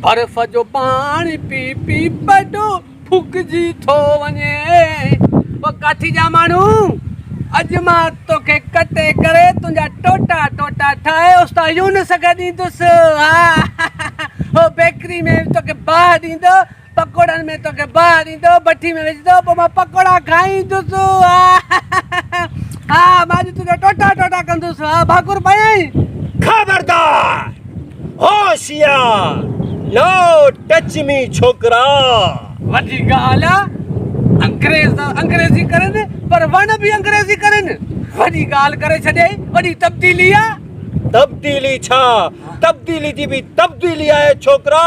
برف جو پاڻي پي پي پيٽ ڦڪجي ٿو وڃي او ڪاٺي جا ماڻهو اڄ مان توکي ڪٽي ڪري تنهنجا ٽوٽا ٽوٽا ٺاهي استاد يونس کي ڏيندس ها او بيڪري ۾ توکي باهه ڏيندو پڪوڙن ۾ توکي باهه ڏيندو بٺي ۾ وجهندو پوء مان پڪوڙا کائيندس ها ها مان اڄ تنهنجا ٽوٽا ٽوٽا ڪندس ها ڀاڪر پيائين خبردار هوشيار نو ٽچ مي ڇوڪرا. وڏي ڳالهه آ انگريز ته انگريزي ڪرين پر وڻ به انگريزي ڪرين وڏي ڳالهه ڪري ڇڏيائين وڏي تبديلي آ. تبديلي ڇا تبديلي جي به تبديلي آهي ڇوڪرا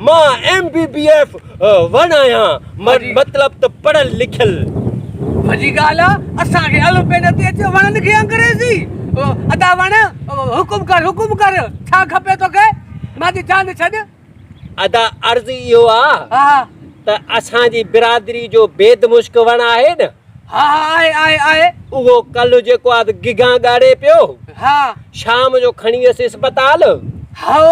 مان ايم بي بي ايف وڻ آهيان مطلب ته پڙهيل لکيل. وڏي ڳالهه آ اسان کي الف بي نٿي اچي وڻن کي انگريزي ادا وڻ حڪم ڪر حڪم ڪر ڇا کپي توکي مان چي جان ڇڏ. ادا عرض اهو آ ته اسان جي برادري جو بيد مشڪ وڻ آهي نه. ها آهي آهي آهي. اهو ڪلهه جيڪو آ گگهان ڳاڙهي پيو. ها. شام جو کڻي ويس اسپتال. هائو.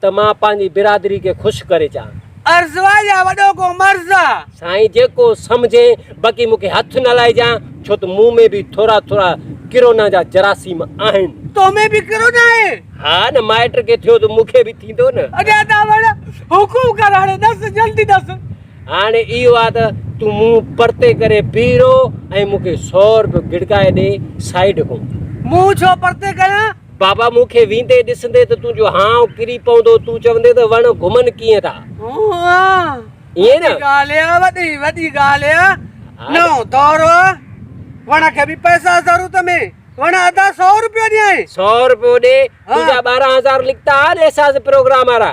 ته مان پنهنجي برادري کي خوش ڪري چان. عرض آ يا وڏو ڪو مرض آ؟ سائين جيڪو سمجهين باقي مون کي هٿ نه لائجان ڇو ته مون ۾ به ٿورا ٿورا ڪرونا جا جراثيم آهن. تو ۾ به ڪرونا آهي؟ ها نه مائٽ کي ٿيو ته مون کي به ٿيندو نه. ادا ته وڙ حڪم ڪر هاڻي ڏس جلدي ڏس. هاڻي اهو آ ته تون منهن پرتي ڪري بيهه رهو ۽ مون کي سو روپيو گڙڪائي ڏي سائيڊ کان. منهن ڇو پرتي ڪيان؟ بابا مون کي ويندي ڏسندي ته تنهنجو هانء ڪري پوندو، تون چوندين ته وڻ گهمن ڪيئن ٿا. هونء ائين نه؟ وڏي ڳالهه آهي، وڏي وڏي ڳالهه آهي. نئون دور آهي، وڻ کي به پئسا ضرورت ۾، وڻ ادا سؤ روپيو ڏيانء. سؤ روپيو ڏي، تنهنجا ٻارهن هزار لکتا ها ڏي ساز پروگرام وارا.